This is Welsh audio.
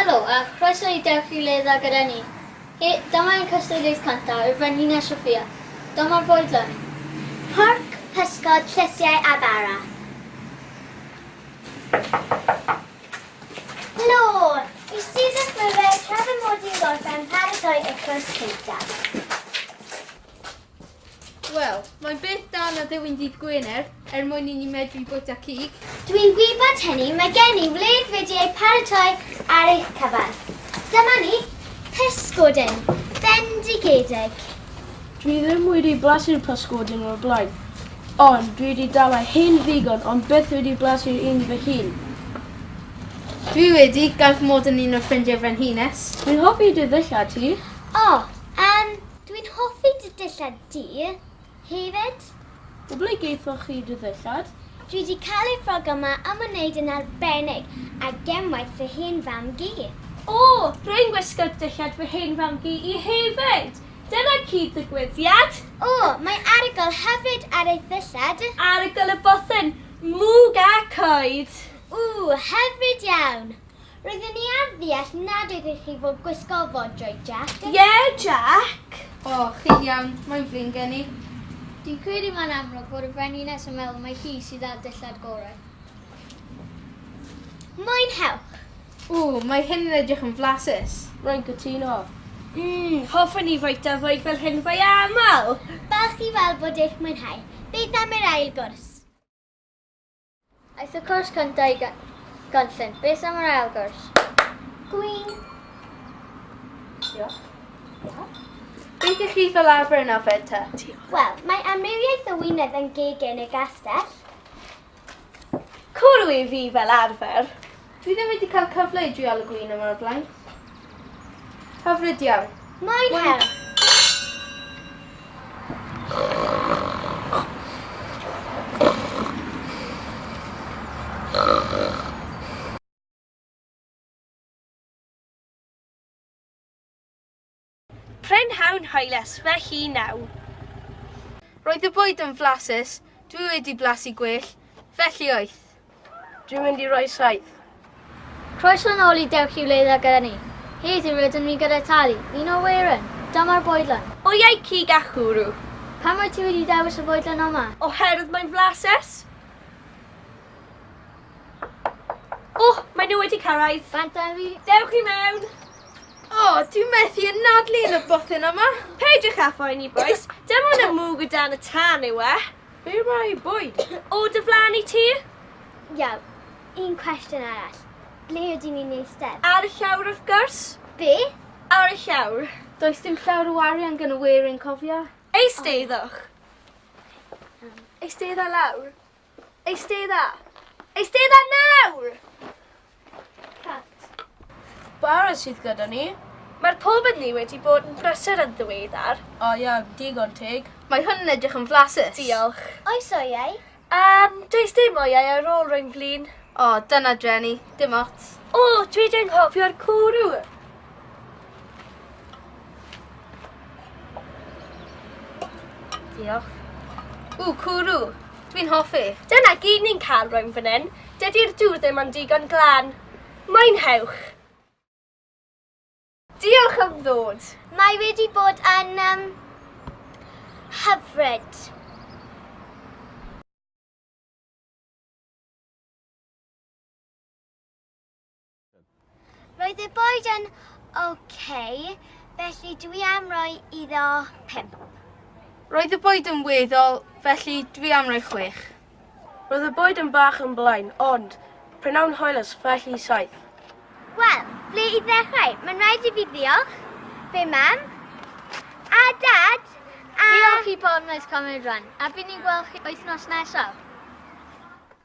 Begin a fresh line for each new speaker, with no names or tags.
Helo a chroeso i Dewch i Le Dda gyda ni. He, dyma ein cystadleuaeth cyntaf i'r Frenhines Sophia. Dyma'r fwydlen. Porc,
pysgod, llysiau a bara. Lore! Y student myfyr tra fy mod i'n gorffen paratoi y cwrs cyntaf.
Wel, mae'n beth da na dewin dydd Gwener er mwyn i ni medru bwyta cig. Dwi'n gwybod
hynny, mae gen i wledd wedi ei paratoi ar eich cyfan. Dyma ni, pysgodyn, bendigedig. Dwi
ddim wedi blasu'r pysgodyn o'r blaen, ond dwi wedi dal â hyn ddigon ond byth wedi blasu'r un fy hun.
Dwi wedi, gan fy mod yn un o ffrindiau Frenhines. Dwi'n hoffi dy
ddillad ti. O, yym,
dwi'n hoffi dy dillad di hefyd. Ble
gaethoch chi dy ddillad? Dwi 'di cael y
ffrog yma am y neud yn arbennig a gemwaith fy hen fam-gu. O! Rwy'n
gwisgo'r dillad fy hen fam-gu i hefyd! Dyna cyd-ddigwyddiad! O! Mae
arogl hyfryd ar ei ddillad. Arogl y bothen!
Mwg a coed! Ww!
Hyfryd iawn! Rydyn ni ar ddeall nad ydych chi fod gwisgo fod joy Jack. Ie Jack!
O, chi'n
iawn, mae'n flin gen i. Dwi'n credu
mae'n amlwg fod y Frenhines yn meddwl mai hi sydd â'r dillad gorau.
Mwynhewch! Ww, mae
hyn yn edrych yn flasus. Rwy'n cytuno.
Mmm, hoffwn i fwyta fwyd fel hyn fwy aml! Falch i weld
bod eich mwynhau. Beth am yr ail gwrs? Aeth
y cors cyntaf i ganllyn. Beth am yr ail gors? Gwyn.
Diolch.
Diolch.
Beth ych chi fel arfer yn ofed ta? Wel, mae
amrywiaeth o wynedd yn geg yn y gastell.
Cwrw i fi fel arfer. Dwi ddim wedi
cael cyfle i drial y gwin yma o'r blaen. Hyfryd iawn. Mae'n her.
Prynhawn hwylus fy hun yw.
Roedd y bwyd yn flasus, dwi wedi blasu gwell, felly wyth. Dwi'n mynd
i roi saith. Croeso
yn ôl i Dewch i Wledd A gyda ni, heddiw rydym ni gyda Tali, un o Werin. Dyma'r fwydlen. O iau cig a
chwrw. Pam wyt ti wedi
dewis y fwydlen yma? Oherwydd mae'n
flasus. Oh, mae nhw wedi cyrraedd. Bant ar fi. Dewch
i mewn.
Oh,
dwi'n methu yn nadlu yn y bothin yma. Peidiwch â phoeni,
boys. Dim ond y mwg o dan y tân yw e. Be mae bwyd? O dy flan i ti? Iawn,
un cwestiwn arall. Ble ydyn ni'n eistedd? Ar y llawr, wrth
gwrs. Be?
Ar y llawr.
Does dim llawr o
arian gan y weirin, cofia. Eisteiddwch.
Eisteidda lawr. Eistedda! Eistedda nawr! Cat. Barod sydd gyda ni. Mae'r pob yn ni wedi bod yn brysur yn ddiweddar. O ia, digon teg. Mae hwn yn edrych yn
flasus. Diolch. Oes
oiau?
Yym, does
dim oiau ar ôl rhoi'n flin. O, dyna dreni.
Dim ots. O, dwi 'di
anghofio'r cwrw! Diolch. Ww, cwrw!
Dwi'n hoffi. Dyna gyd ni'n
cael rwy'n fan hyn. Dydy'r dŵr ddim ond digon glan. Mwynhewch! Diolch am ddod. Mae wedi bod
yn um, hyfryd. Roedd y boed yn ok, felly dwi am roi iddo 5.
Roedd y boed yn weddol, felly dwi am roi 6. Roedd y
boed yn bach yn blaen, ond prynawn hoelus, felly 7. Wel,
ble i ddechrau? Mae'n rhaid i fi ddiolch, fe mam, a dad, a... Diolch i Porn Oes
Comedy Run, a fi'n ni'n gweld chi wythnos nesaf.